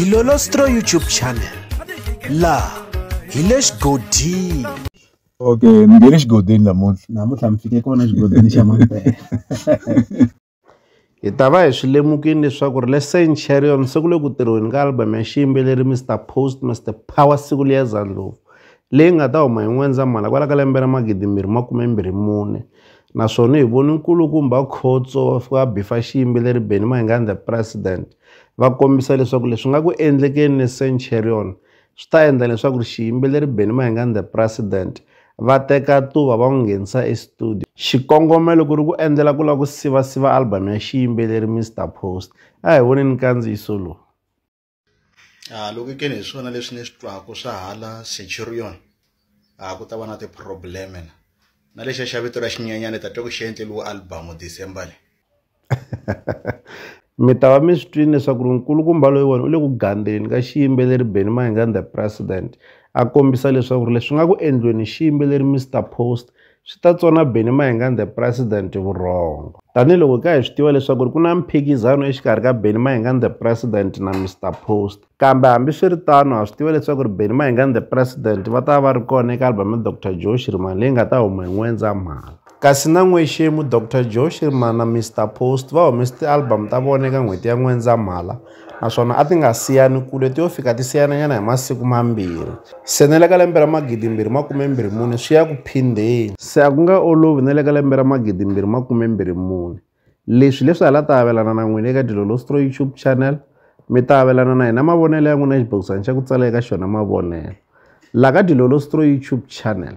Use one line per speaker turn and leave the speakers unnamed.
dilolostro youtube channel laha hi le xigodini okay
ni nge le xigodini namuntlha namuntlha mi fike kona xigodini xa mampela
hi ta va hi swi lemukini leswaku ri le saint charion se ku le ku tirhiweni ka album ya xiyimbeleri mr post mr power siku liya zandlovu leyi nga ta huma hi n'wendzamhala kwala ka lembe ra magidimbirhi makume mbirhi mune Naswona hi vone nkulukumba Khotso va fika va bifa xiyimbi leri Benny Mayengani the President va kombisa leswaku leswi nga ku endlekeni ni Centurion swi ta endla leswaku ri xiyimbi leri Benny Mayengani the President va teka tuva va n'wi nghenisa estudio xikongomelo ku ri ku endlela ku lava ku sivasiva album ya xiyimbeleri Mister Post a hi voneni nkandziyiso lowu.
halukekeni hi swona leswi ni swi twaka swa hala centurion a ku ta va na ti-problem na na lexiya xa vito ra xinyanyana ta twa ku xi endleliwe album december le
mi ta va mi swi twini leswaku ri nkulukumba loyi wona u le ku gandzeni ka xiyimbeleri benny mahingan the president a kombisa leswaku ri leswi nga ku endliweni xiyimbeleri mr post swi ta tsona Benny Mayengani the President vurhongo. Tanihi loko ka hi swi tiva leswaku ku na mphikizano exikarhi ka Benny Mayengani the President na Mr Post. Kambe hambiswiritano ha swi tiva leswaku ri Benny Mayengani the President va ta va ri kona eka album ya Dr Joe Shirimani leyi nga ta huma hi N'wendzamhala. Kasi na n'wexemu Dr Joe Shirimani na Mr Post va humese ti-album ta vona eka n'hweti ya N'wendzamhala. naswona a ti nga siyani kule ti yo fika ti siyananyana hi masiku mambirhi. Se na le ka lembe ra magidimbirhi makume mbirhi mune swi ya ku phindheni. Se a ku nga olovi na le ka lembe ra magidimbirhi makume mbirhi mune. Leswi hi leswi ha la ta avelana na n'wina eka Dilolostro YouTube Channel, mi ta avelana na hina mavonelo ya n'wina exibokisana xa ku tsala eka xona mavonelo, la ka Dilolostro YouTube Channel.